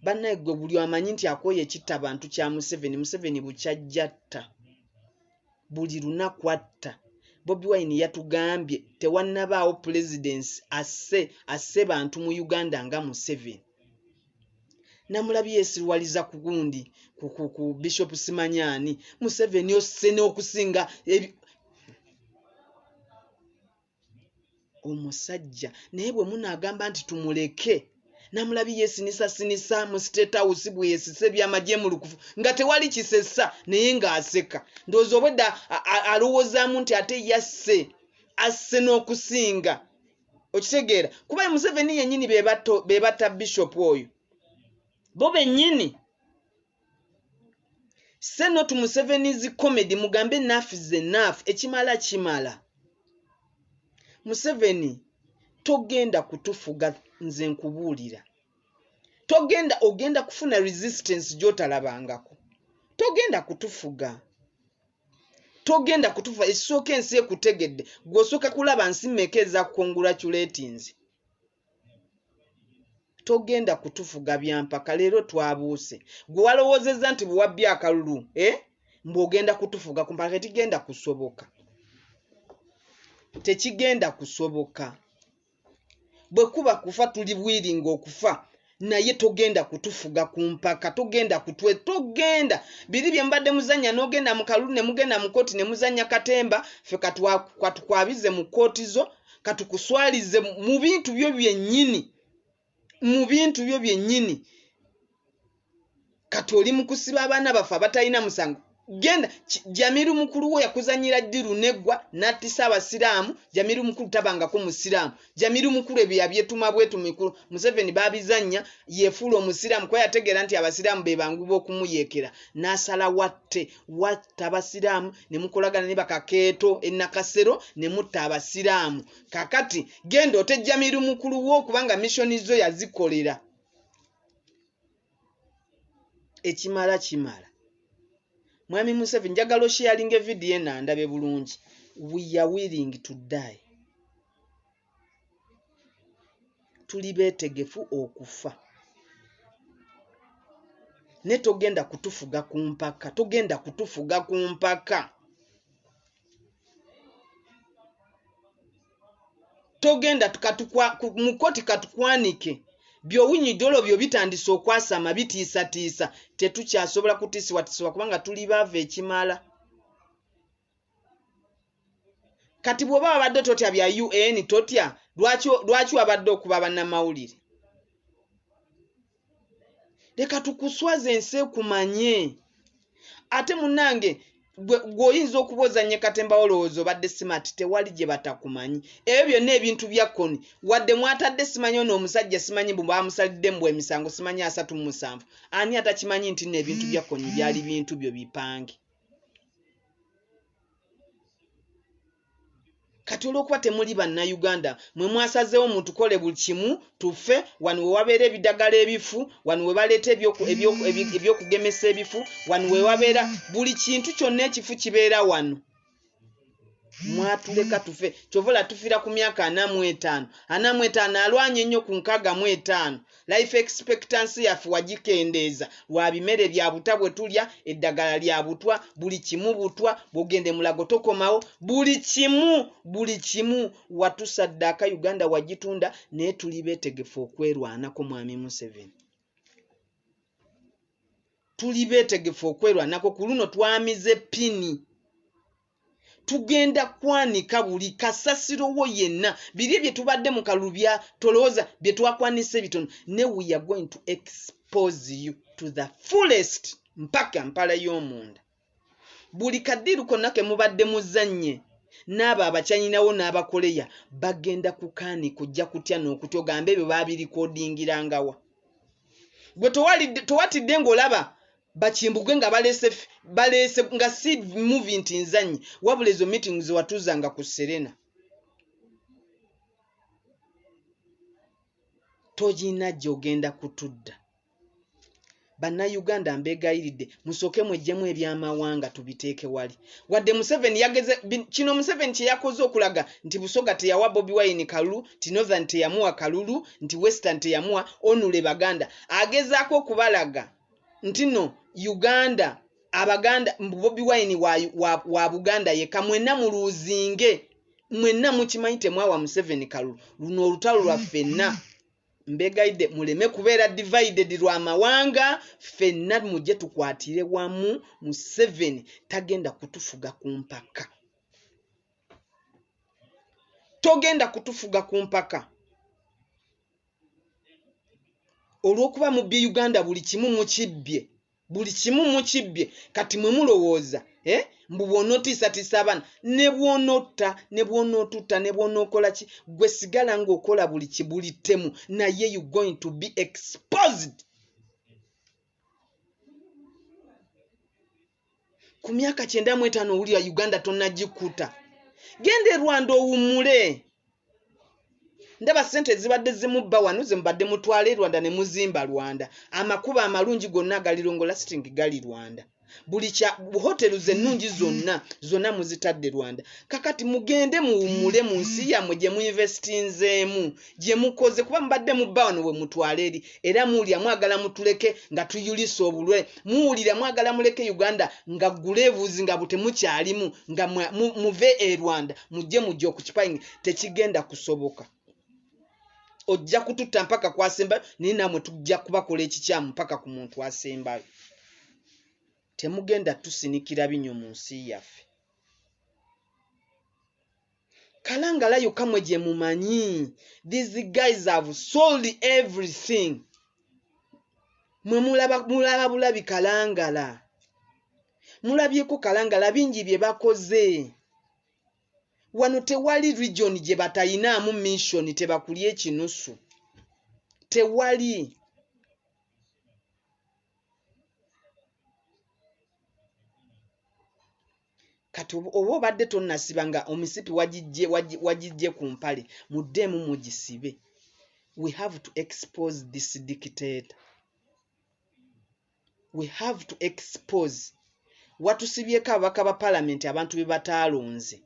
Banaye gwe buli amanyi nti akoye ekitta bantu kya Museveni, Museveni bukyajjatta buli lunaku atta. Bobi Wine yatugambye tewanabaawo pulezidence asse asse bantu mu Uganda nga Museveni. Namulabi yesiruwaliza kugundi ku, ku, ku Bishop Simanyani. Museveni osse n'okusinga omusajja naye bwe munaagamba nti tumuleke namulabi yesinisasinisa mu state house bweyesisa ebyamagye mu lukufu nga tewali kisesa naye ng'aseka ndowooza obwedda alowoozaamu nti ate yasse asse n'okusinga okitegeera kuba museveni yennyini bebatta bishop oyo bo bennyini Say no to Museveni's comedy mugambe enough is enough ekimala kimala. Museveni togenda kutufuga nze nkubuulira. Togenda ogenda kufuna resistance gyotalabangako. Togenda kutufuga. Togenda kutufuga esooka ensi ekutegedde gwosooka kulaba nsi meeka eza congratulatinze. togenda kutufuga byampaka leero twabuuse gwe walowoozezza nti bwewabbi akalulu eh? mbu ogenda kutufuga kumpaka tetigenda kusoboka tekigenda kusoboka bwe kuba kufa tuli bwiringa okufa naye togenda kutufuga ku mpaka togenda kutwe togenda biri bye mbadde muzannya n'ogenda mu kalulu ne mugenda mu kkooti ne muzannya katemba ffe katukwabize mu kkooti zo katukuswalize mu bintu byo byennyini mu bintu byo byennyini kati oli mukusiba abaana baffe abatalina musango genda jamiru mukulu wo yakuzanyira ddi luneggwa nattisa abasiraamu jamiru mukulu tabangako musiraamu jamiru mukulu ebyo yabyetuma bwetu mikulu museveni babizannya yefuula omusiraamu kuba yategeera nti abasiraamu be banguba okumuyeekera n'asala watte watta abasiraamu ne mukolagana ne bakakeeto enakasero ne mutta abasiraamu kakati genda ote jamiru mukulu wo kubanga missioni zo yazikolera ekimala kimala mwami museveni njagala osheyalinga evidiyo eno andabe bulungi we are willing to die tuli beetegefu okufa naye togenda kutufuga ku mpaka togenda kutufuga ku mpaka togenda mukoti katukwanike byowunyidde olwo byo bitandise okwasama bitiisatiisa tetukyasobola kutiisibwatiisibwa kubanga tuli baava ekimala kati bwoba wabadde totya bya un totya lwaki wabadde okuba banamawulire leka tukuswaza ensi ekumanye ate munange gweoyinza okuba ozanye katemba olowooza obadde smart tewali gye batakumanyi ebyo byonna ebintu bya koni wadde mwatadde simanyi ono omusajja simanyi mbu bamusalidde mbu emisango simanyi asatu mu musanvu ani atakimanyi nti no ebintu bya koni byali bintu byo bipange kati olwokuba temuli bannayuganda mwe mwasazeewo mutukole buli kimu tufe wano wewabeera ebidagala ebifu wano webaleeta ebyokugemesa ebifu wano wewabeera buli kintu kyonna ekifu kibeera wano mwatuleka tufe kyovola tufira ku myaka anamu etaano anamu etaano alwanye nnyo ku nkaaga mu etaano Life expectancy yaffe wagikendeeza lwa bimere bya butwa bwe tulya, eddagala lya butwa, buli kimu butwa, bw'ogenda e Mulago tokomawo, buli kimu, buli kimu, watusaddaaka Uganda wagitunda naye tuli beetegefu okwerwanako Mwami Museveni. Tuli beetegefu okwerwanako, ku luno twamize ppini. tugenda kwanika buli kasasiro wo yenna biri bye tubadde mu kalulu bya tolooza bye twakwanisa ebitono ne we are going to expose you to the fullest mpaka mpala y'omunda buli kadiru konna ke mubadde muzannye n'abo abakyanyinawo n'abakoleya bagenda kukaani kujja kutya n'okutya ogambe ebyo baabirikodingirangawa gwe towatidde ng'olaba bakimbugwe nga balese balese nga si movie nti nzanyi wabula ezo meeting zewatuzanga ku serena togina gyogenda kutudda bannayuganda mbeegayiridde musooke mwejjemu ebyamawanga tubiteeke wali wadde museveni yageze kino museveni kye yakoze okulaga nti busoga teyawa bobi wine kalulu nti northern teyamuwa kalulu nti western teyamuwa onule baganda agezaako okubalaga ntino uganda abaganda bobi wine wa, wa, wa buganda yeka mwena muluzinge mwena mukimanyi temwawa museveni kalu luno olutalo lwa fenna mbegaide muleme kubeera divided lwa mawanga fenna muje tukwatire wamu museveni tagenda kutufuga ku mpaka togenda kutufuga ku mpaka olw'okuba mubbye uganda buli kimu mukibbye buli kimu mukibbye kati mwe mulowooza eh? mbu bw'onootiisatiisa abaana ne bw'onotta ne bw'onootutta ne bw'onookola ki gwe sigala ng'okola buli kibuli ttemu naye you going to be exposed ku myaka kyenda mu etaano owulira uganda tonagikuta genda erwanda owummule ndaba sente ezibadde zimubba wano zemubadde mutwala e rwanda ne muzimba rwanda amakuba amalungi gonna agalirongo lasting gali rwanda buli kya hotelu zennungi zonna zonna muzitadde rwanda kakati mugende muwummule mu nsi yammwe gye muinvestinzeemu gyemukoze kuba mubadde mubba wano we mutwala eri era muwulira mwagala mutuleke nga tuyulisa obulwe muwulira mwagala muleke uganda nga gula ebuzi nga butemukyalimu nga muve e rwanda mujje mujja okukipayingi tekigenda kusoboka ojja kututta mpaka kwasembayo naye namwe tujja kubakola ekikyamu mpaka ku muntu asembayo temugenda tusinikira binyo mu nsi yaffe Kalangala yokka mwe gye mumanyi. These guys have sold everything. Mwe mulaba mulaba bulabi Kalangala. Mulabyeko Kalangala bingi bye bakoze. Wano tewali region gye batayinaamu mission tebakulya ekinusu. Tewali. kati oba obadde tonnasiba nga omisipi wagijje ku mpale muddeemu mugisibe we have to expose this dictator we have to expose watusibyeko ababaka ba palamenti abantu be bataalonze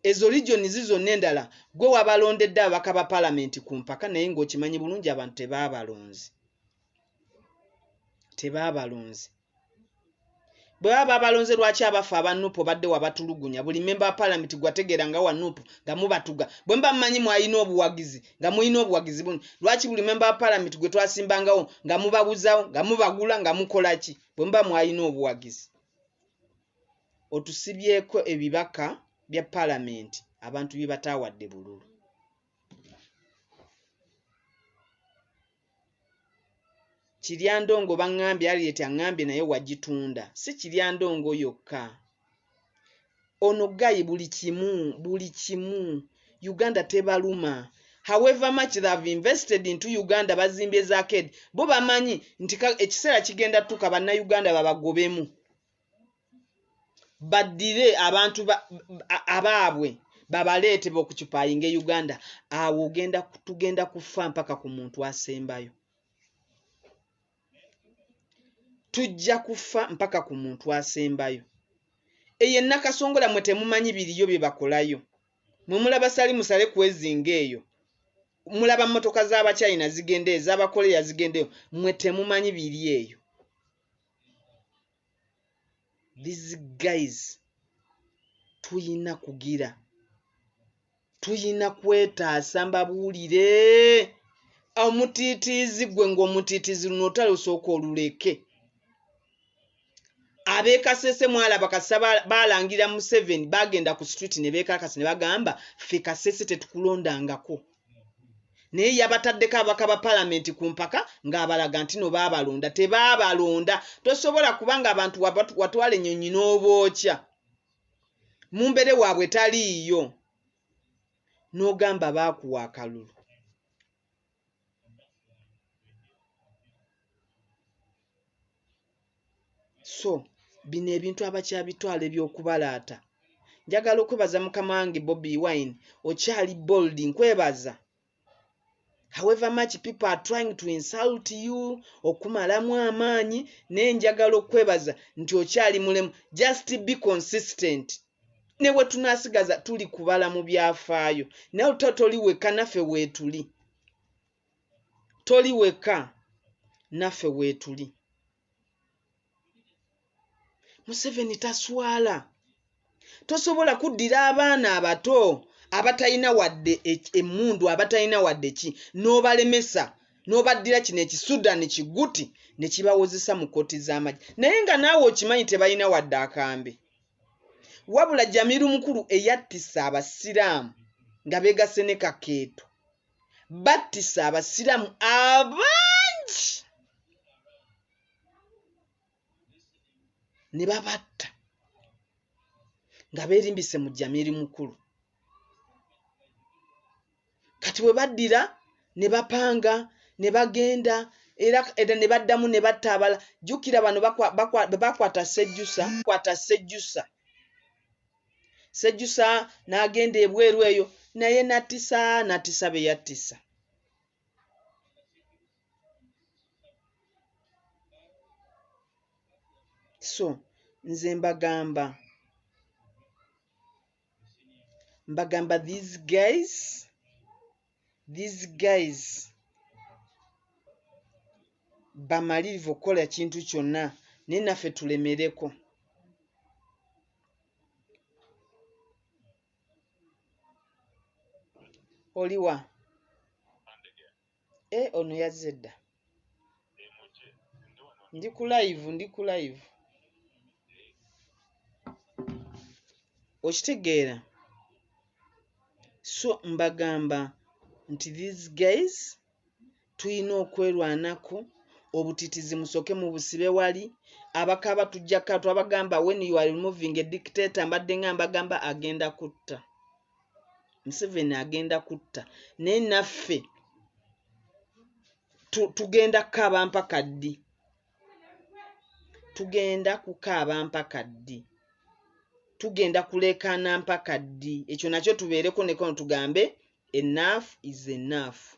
ezo regioni zi zonna endala gwe wabalondedde ababaka ba palamenti ku mpaka naye ng'okimanyi bulungi abantu tebaabalonzi tebaabalonzi bwe baba babalonze lwaki abaffe aba nupu obadde wabatulugunya buli memba wa palamenti gwategeera nga wa nupu nga mubatuga bwe muba mumanyi mwalina obuwagizi nga mulina obuwagizi buni lwaki buli memba wa palamenti gwe twasimbangawo nga mubabuzawo nga mubagula nga mukola ki bwe muba mwalina obuwagizi otusibyeko ebibaka bya palamenti abantu bye bataawadde bululu kiryandongo baŋŋambye alieti aŋŋambye naye wagitunda si kiryandongo yokka ono gayi buli kimu buli kimu uganda tebaluma however much they have invested into uganda bazimbye zaked bo bamanyi nti ekiseera kigenda tuka bannayuganda babagobemu baddire abantu abaabwe babaleete bokukipayinga e uganda awo ogenda tugenda kufa mpaka ku muntu asembayo tujja kufa mpaka ku muntu asembayo eyo enakasongola mwe temumanyi biriyo bye bakolayo mwe mulaba sali musale kwezinga eyo mulaba mmotoka z'abachina zigendeyo z'abakoleya zigendeyo mwe temumanyi biri eyo these guys tuyina kugira tuyina kwetaasa mbabuulire omutiitiizi gwe ng'omutiitiizi luno otalusooka oluleke abekasese mwalaba kasa baalangira museveni baagenda ku street ne beekakasa ne bagamba ffe kasese tetukulondangako naye yabataddeko ababaka ba palamenti ku mpaka ng'abalaga nti no baabalonda tebaabalonda tosobola kuba ng'abantu watwala ennyonyi n'obookya mu mbere waabwe taliiyo n'ogamba baakuwa akalulu so bino ebintu abakyabitwala ebyokubalaata njagala okwebaza mukama wange bobi wine okyali bold nkwebaza however much people are trying to insult you okumalamu amaanyi naye njagala okwebaza nti okyali mulemu just be consistent ne bwe tunasigaza tuli kubala mu byafaayo naye otatoli wekka naffe weetuli toli weka naffe weetuli museveni taswala tosobola kuddira abaana abato abatalina wadde emmundu abatalina wadde ki n'obalemesa n'obaddira kino ekisudani kiguti ne kibawozesa mu kkooti z'amagye naye nga naawe okimanyi tebalina wadde akambe wabula jamiru mukulu eyattisa abasiraamu nga beegasse ne kakeeto battisa abasiraamu abangi ne babatta nga beerimbise mu jamiri mukulu kati bwe baddira ne bapanga ne bagenda era era ne baddamu ne batta abala jjukira bano bwe bakwata sejjusa kwata sejjusa sejjusa n'agenda ebweru eyo naye nattisa nattisa be yattisa so nze mbagamba mbagamba these guys these guys bamalirivu okukola ekintu kyonna naye naffe tulemereko oliwa e eh, ono yazze dda ndi ku live ndi ku live okitegeera so mbagamba nti these guys tulina okwerwanako obutitizi musooke mu busibe wali abakaaba tujjaka twabagamba when you are removing a dictator mbadde nga mbagamba agenda kutta museveni agenda kutta naye naffe tugenda kukaaba mpaka ddi tugenda kukaaba mpaka ddi tugenda kuleekaana mpaka ddi ekyo nakyo tubeereko nekono tugambe enafu is enafu